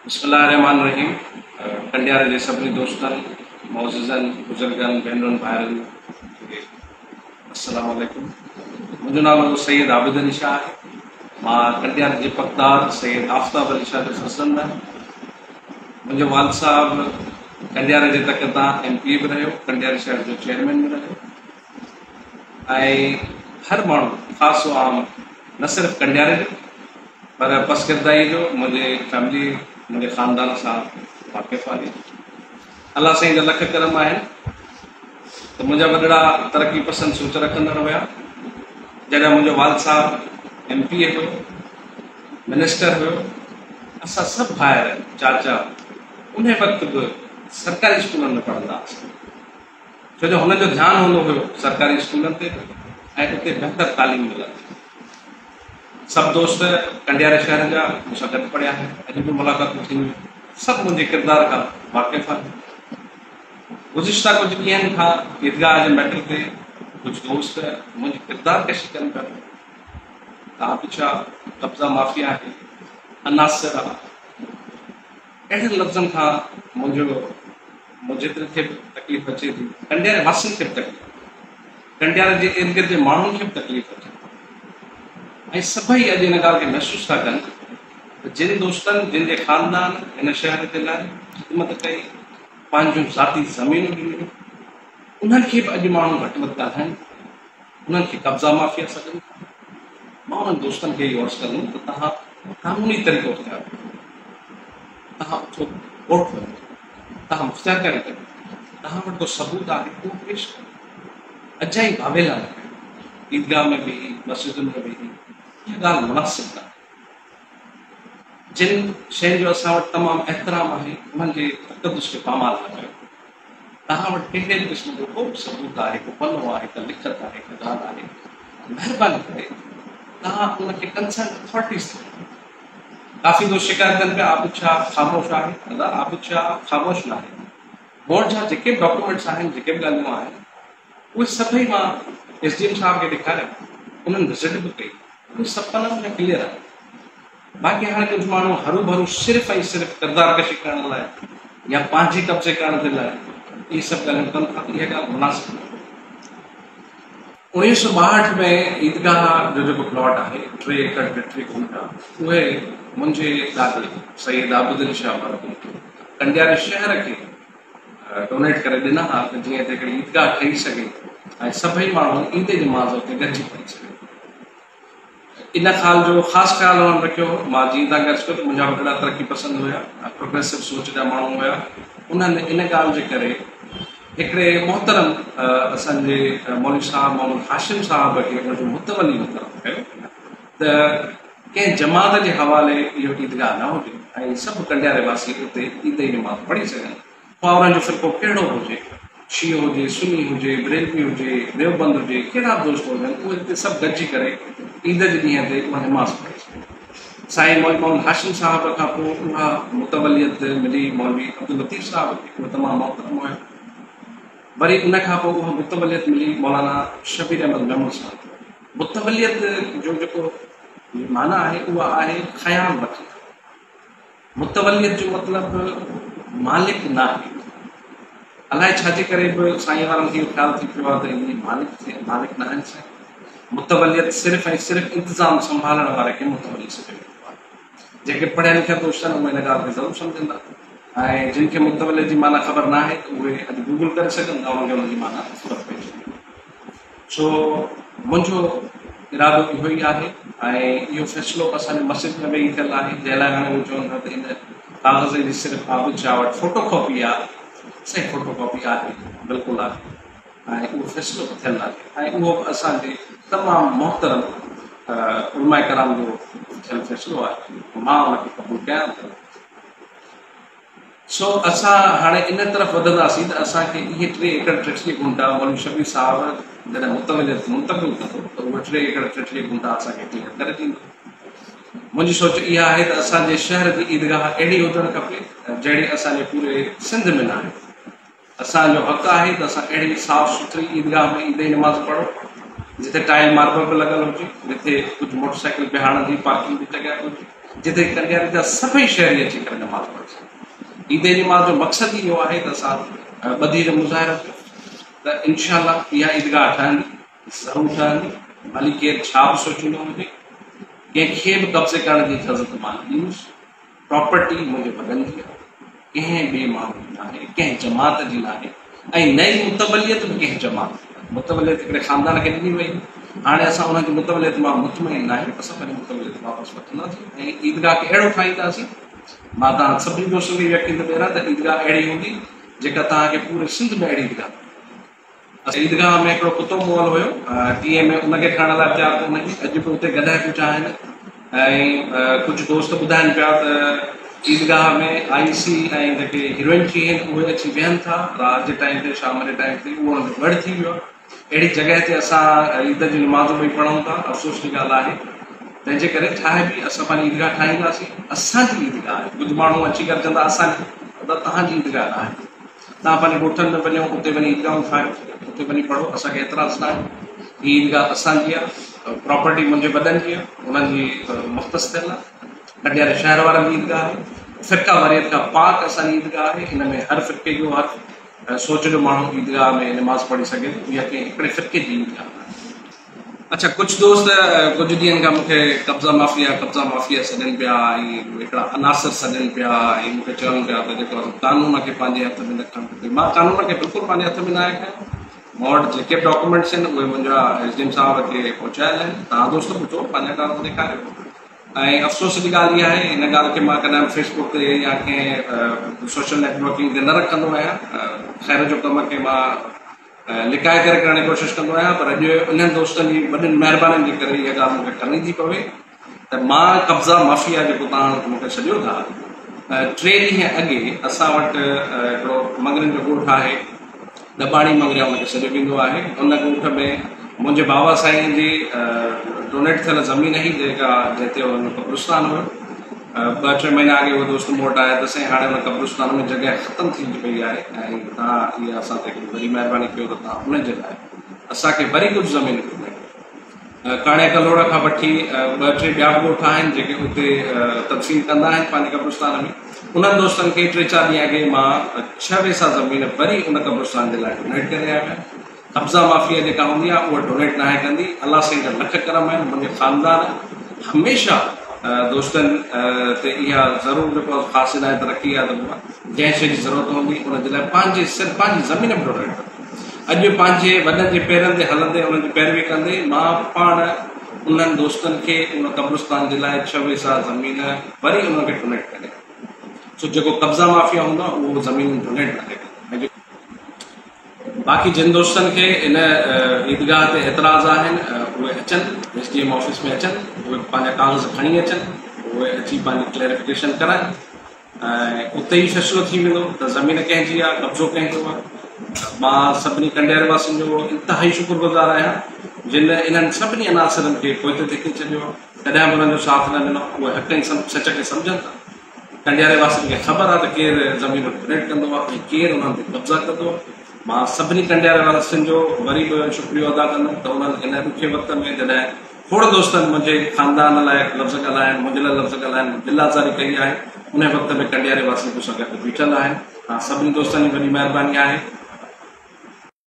بسم الله الرحمٰن الرحيم ڪنڊيار جي سڀني دوستن معززن بزرگن ڀينرن ڀائرن کي السلام عليڪم منهنجو نالو سيد عابد علي شاهه آهي مان ڪنڊيار جي پڪدار سيد آفتاب علي شاهه جو فرزند آهيان منهنجو والد صاحب ڪنڊيار جي تڪ تان ايم پي اي به رهيو ڪنڊيار شهر جو چيئرمين به رهيو ۽ هر ماڻهو خاص و عام نه صرف ڪنڊياري جو پر پسگردائي جو منهنجي فيملي منهنجي خاندان سان واقف آهي الله سائين جا لک ڪرم آهن ته منهنجا وڏڙا ترقي پسند سوچ رکندڙ هيا جڏهن منهنجو والد صاحب ايم پي اي هيو منسٽر هيو اسان سڀ ڀائر چاچا ان وقت به سرڪاري اسڪولن ۾ پڙهندا هئاسين ڇو جو هنن جو ڌيان هوندو هيو سرڪاري اسڪولن تي به ۽ اتي بهتر تعليم ملندي. سڀ دوست ڪنڊياري شهر جا مون سان گڏ پڙهيا آهن، اڄ به ملاقاتون ٿينديون آهن، سڀ منهنجي ڪردار کان واقف آهن. گذشته ڪجهه ڏينهن کان عيدگاهه جي ميٽر تي ڪجهه دوست منهنجي ڪردار ڪشي ڪن پيا ته آ پڇا قبضا مافيا آهي، عناصر آ. اهڙن لفظن کان منهنجو مون جيتري کي به تڪليف اچي ٿي، ڪنڊياري واسين کي به تڪليف اچي ٿي، ڪنڊياري جي ارد گرد جي ماڻهن کي به تڪليف اچي ٿي ۽ سڀئي اڄ ان ڳالهه کي محسوس ٿا ڪن ته جن دوستن، جن جي خاندان هن شهر جي لاء خدمت ڪئي، پنهنجون ذاتي زمينون ڏنيون، انهن کي به اڄ ماڻهو گهٽ وڌ ٿا ڪن. انهن کي قبضا مافيا سڏيو ٿا. مان انهن دوستن کي اهو عرض ڪندم ته توهان قانوني طريقو اختيار ڪيو ٿا. توهان اٿو ڪورٽ وڃو ٿا. توهان مختيارڪاري ڪريو ٿا. توهان وٽ ڪو ثبوت آهي ته اهو پيش ڪريو. اجائي واويلا نه ڪيو. عيدگاهه ۾ ويهي، مسجدن ۾ ويهي اها ڳالهه مناسب ناهي. جن شين جو اسان وٽ تمام احترام آهي انهن جي تقدس کي پامال نه ڪيو. توهان وٽ ڪهڙي به قسم جو ڪو به ثبوت آهي، ڪو پنو آهي، ڪا لکت آهي، ڪا ڳالهه آهي ته مهرباني ڪري توهان ان کي ڪنسرن اٿارٽيز کي ڏيو. ڪافي دوست شڪايت ڪن پيا عابد شاهه خاموش آهي، ادا عابد شاهه خاموش ناهي، مون جا جيڪي به ڊاڪيومينٽس آهن، جيڪي به ڳالهيون آهن، اهي سڀئي مان ايس ڊي ايم صاحب کي ڏيکاريا، انهن وزٽ به ڪئي، اهي سڀ پنن ۾ ڪليئر آهي. باقي هر ڪجهه ماڻهو هروڀرو صرف ۽ صرف ڪردار ڪشي ڪرڻ لاء يا پنهنجي قبضي ڪرڻ جي لاء اهي سڀ ڳالهيون ڪن ٿا ته اها ڳالهه مناسب ناهي. اوڻيهه سؤ ٻاهٺ ۾ عيدگاهه جو جيڪو پلاٽ آهي ٽي ايڪڙ ۽ ٽي گهنٽا اهي منهنجي دادي سيد عابدعلي شاهه مروي ڪنڊياري شهر کي ڊونيٽ ڪري ڏنا ها ته جيئن ته هڪڙي عيدگاهه ٺهي سگهي ۽ سڀئي ماڻهو عيد جي مانزو تي گڏجي پڙهي سگهن. ان خال جو خاص خيال انهن رکيو هو. مان جيئن تان ڳڻي چڪو ته منهنجا وڏڙا ترقي پسند هيا ۽ پروگريسو سوچ جا ماڻهو هيا. انهن ان ڳالهه جي ڪري هڪڙي محترم اسان جي مولوي صاحب محمد هاشم صاحب کي ان جو متولي مقرر ڪيو ته ڪنهن جماعت جي حوالي اهو عيدگاهه نه هجي ۽ سڀ ڪنڊياري واسي اتي عيد جي نماز پڙهي سگهن. پاورن جو فرقو ڪهڙو به هجي، شيعو هجي، سني هجي، بريلوي هجي، ديوبند هجي، ڪهڙا به دوست هجن، اهي هتي سڀ گڏجي ڪري عيد جي ڏينهن تي اها نماز پڙهي سگهن. سائين مولوي محمد هاشم صاحب کان پوء اها متوليت ملي مولوي عبداللطيف صاحب کي، اهو تمام محترم هيو. وري ان کان پوء اها متوليت ملي مولانا شبير احمد محمود صاحب کي. متوليت جو جيڪو معنيٰ آهي، اها آهي خيال وٺڻ. متوليت جو مطلب مالڪ ناهي. الائي ڇا جي ڪري به سائين وارن کي اهو خيال ٿي پيو آهي ته اهي مالڪ ٿي مالڪ ناهن سائين. متوليت صرف ۽ صرف انتظام سنڀالڻ واري کي متولي سڏيو ويندو آهي. جيڪي پڙهيا لکيا دوست آهن اهي هن ڳالهه کي ضرور سمجهندا ۽ جن کي متوليت جي معنيٰ خبر ناهي ته اهي اڄ گوگل ڪري سگهن ٿا انهن کي ان جي معنيٰ خبر پئجي ويندي. سو منهنجو ارادو اهو ئي آهي ۽ اهو فيصلو به اسان جي مسجد ۾ ويهي ٿيل آهي، جنهن لاء هاڻي هو چون ٿا ته هن ڪاغذ جي صرف عابد شاهه وٽ فوٽو ڪاپي آ، سائين فوٽو ڪاپي آهي، بلڪل آهي ۽ اهو فيصلو به ٿيل آهي ۽ اهو به اسان جي تمام محترم علماء ڪرام جو ٿيل فيصلو آهي، مان ان کي قبول ڪيان ٿو. سو اسان هاڻي ان طرف وڌنداسين ته اسان کي اهي ٽي ايڪڙ ٽيٽلي ڪنڊا مولوي شبير صاحب جڏهن متوليت منتقل ڪندو ته اهي ٽي ايڪڙ ٽيٽلي ڪنڊا اسان کي ڪليئر ڪري ڏيندو. منهنجي سوچ اها آهي ته اسان جي شهر جي عيدگاهه اهڙي هجڻ کپي جهڙي اسان جي پوري سنڌ ۾ ناهي. اسان جو حق آهي ته اسان اهڙي صاف سٿري عيدگاهه ۾ عيدي نماز پڙهون جتي ٽائل ماربل به لڳل هجي، جتي ڪجهه موٽرسائيڪل بيهارڻ جي پارڪنگ جي جڳهه به هجي، جتي ڪنڊياري جا سڀئي شهري اچي ڪري نماز پڙهي سگهن. عيدي نماز جو مقصد ئي اهو آهي ته اسان ٻڌي جو مظاهرو ڪيون ته انشاء الله اها عيدگاهه ٺهندي، ضرور ٺهندي، ڀلي ڪير ڇا به سوچيندو هجي، ڪنهن کي به قبضي ڪرڻ جي اجازت مان نه ڏيندس. پراپرٽي منهنجي وڏن جي آهي، ڪنهن ٻئي ماڻهو جي ناهي، ڪنهن جماعت جي ناهي ۽ نه ئي متوليت به ڪنهن جماعت جي آهي. متوليت هڪڙي خاندان کي ڏني وئي هئي. هاڻي اسان انهن جي متوليت مان مطمئن ناهيون. اسان پنهنجي متوليت واپس وٺنداسين ۽ عيدگاهه کي اهڙو ٺاهينداسين. مان توهان سڀني دوستن کي يقين ٿو ڏياريان ته عيدگاهه اهڙي هوندي جيڪا توهان کي پوري سنڌ ۾ اهڙي عيدگاهه نه ملندي. اسان جي عيدگاهه ۾ هڪڙو ڪتو مئل هيو، ٽي ايم اي ان کي کڻڻ لاء تيار ڪونهي ٿي، اڄ به اتي گڏهه ڪچا آهن ۽ ڪجهه دوست ٻڌائن پيا ته عيدگاهه ۾ آئي سي ۽ جيڪي هيروئن ٿي هين اهي اچي ويهن ٿا، رات جي ٽائيم تي شام جي ٽائيم تي اهو هنڌ ڳڙهه ٿي ويو آهي، اهڙي جڳهه تي اسان عيد جون نمازون ٻئي پڙهون ٿا، افسوس جي ڳالهه آهي، تنهن جي ڪري ٺاهي به اسان پنهنجي عيدگاهه ٺاهينداسين، اسان جي عيدگاهه آهي، ڪجهه ماڻهو اچي گڏجندا اسان جي، پر توهان جي عيدگاهه ناهي. توهان پنهنجي ڳوٺن ۾ وڃو اتي وڃي عيدگاهون ٺاهيو اتي وڃي پڙهو اسان کي اعتراض نه آهي هي عيدگاهه اسان جي آهي پراپرٽي منهنجي وڏن جي آهي انهن جي مختص ٿيل آهي ڪٽياري شهر وارن جي عيدگاهه آهي فرقه واريت کان پاڪ اسان جي عيدگاهه آهي ان ۾ هر فرقي جو هر سوچ جو ماڻهو عيدگاهه ۾ نماز پڙهي سگهي ٿو اها ڪنهن هڪڙي فرقي جي عيدگاهه آهي اڇا ڪجهه دوست ڪجهه ڏينهن کان مونکي قبضا مافيا قبضا مافيا سڏين پيا ۽ هڪڙا عناصر سڏين پيا ۽ مونکي چون پيا ته جيڪو قانون کي پنهنجي هٿ ۾ نه کڻڻ کپي مان قانون کي بلڪل پنهنجي هٿ ۾ نه آهي کڻيو مون وٽ جيڪي به ڊاڪومينٽس آهن اهي منهنجا ايس ڊي ايم صاحب کي پهچايل آهن تان دوست ٻڌو پنهنجا ڪاغذ ڏيکاريو ۽ افسوس جي ڳالهه اها آهي ان ڳالهه کي مان ڪڏهن فيسبوڪ تي يا ڪنهن سوشل نيٽورڪنگ تي نه رکندو آهيان خير جو ڪم کي مان لڪائي ڪري ڪرڻ جي ڪوشش ڪندو آهيان پر اڄ انهن دوستن جي وڏين مهربانين جي ڪري اها ڳالهه مون کي ڪرڻي ٿي پوي ته مان قبضا مافيا جيڪو تهان مون کي سڏيو ٿا ٽي ڏينهن اڳي اسان وٽ هڪڙو مڱرين جو ڳوٺ آهي ڏٻاڻي مڱريا ان کي سڏيو ويندو آهي ان ڳوٺ ۾ منهنجي بابا سائين جي ڊونيٽ ٿيل زمين هئي جيڪا جتي ان قبرستان هو ٻه ٽي مهينا اڳي اهو دوست مون وٽ آيو ته سائين هاڻي ان قبرستان ۾ جڳهه ختم ٿيندي پئي آهي ۽ توهان اها اسان تي هڪڙي وڏي مهرباني ڪيو ته توهان ان جي لاء اسان کي وري ڪجهه زمين ڏني. ڪاڻي ڪلهوڙ کان وٺي ٻه ٽي ٻيا به ڳوٺ آهن جيڪي اتي تدفين ڪندا آهن پنهنجي قبرستان ۾ انهن دوستن کي ٽي چار ڏينهن اڳي مان ڇهه ويسا زمين وري ان قبرستان جي لاء ڊونيٽ ڪري آيو آهيان. قبضا مافيا جيڪا هوندي آهي اها ڊونيٽ ناهي ڪندي الله سائين جا لک ڪرم آهن منهنجي خاندان هميشه دوستن تي اها ضرور جيڪو آهي خاص عنايت رکي آهي ته جنهن شي جي ضرورت هوندي ان جي لاء پنهنجي سر پنهنجي زمين به ڊونيٽ ڪندي اڄ پنهنجي وڏن جي پيرن تي هلندي انهن جي پيروي ڪندي مان پاڻ انهن دوستن کي ان قبرستان جي لاء ڇهه ويسا زمين وري انهن کي ڊونيٽ ڪري سو جيڪو قبضا مافيا هوندو آهي اهو زمينون ڊونيٽ ناهي ڪندو باقي جن دوستن کي ان عيدگاهه تي اعتراض آهن اهي اچن ايس ڊي ايم آفيس ۾ اچن اهي پنهنجا ڪاغذ کڻي اچن اهي اچي پنهنجي ڪليريفڪيشن ڪرائن ۽ اتي ئي فيصلو ٿي ويندو ته زمين ڪنهن جي آهي قبضو ڪنهن جو آهي مان سڀني ڪنڊير واسين جو انتهائي شڪر گذار آهيان جن انهن سڀني عناصرن کي پوئتي ڌڪي ڇڏيو آهي ڪڏهن به انهن جو ساٿ نه ڏنو اهي حق ۽ سچ کي سمجهن ٿا ڪنڊياري واسين کي خبر آ ته ڪير زمين ڦريٽ ڪندو آ ۽ ڪير انهن تي قبضا ڪندو آ. مان سڀني ڪنڊياري واسين جو وري به شڪريو ادا ڪندم ته انهن هن ڏکي وقت ۾ جڏهن کوڙ دوستن منهنجي خاندان لاء لفظ ڳالهائڻ، منهنجي لاء لفظ ڳالهائڻ ۾ دل آزاري ڪئي آهي، انهي وقت ۾ ڪنڊياري واسين مون سان گڏ بيٺل آهن. توهان سڀني دوستن جي وڏي مهرباني آهي.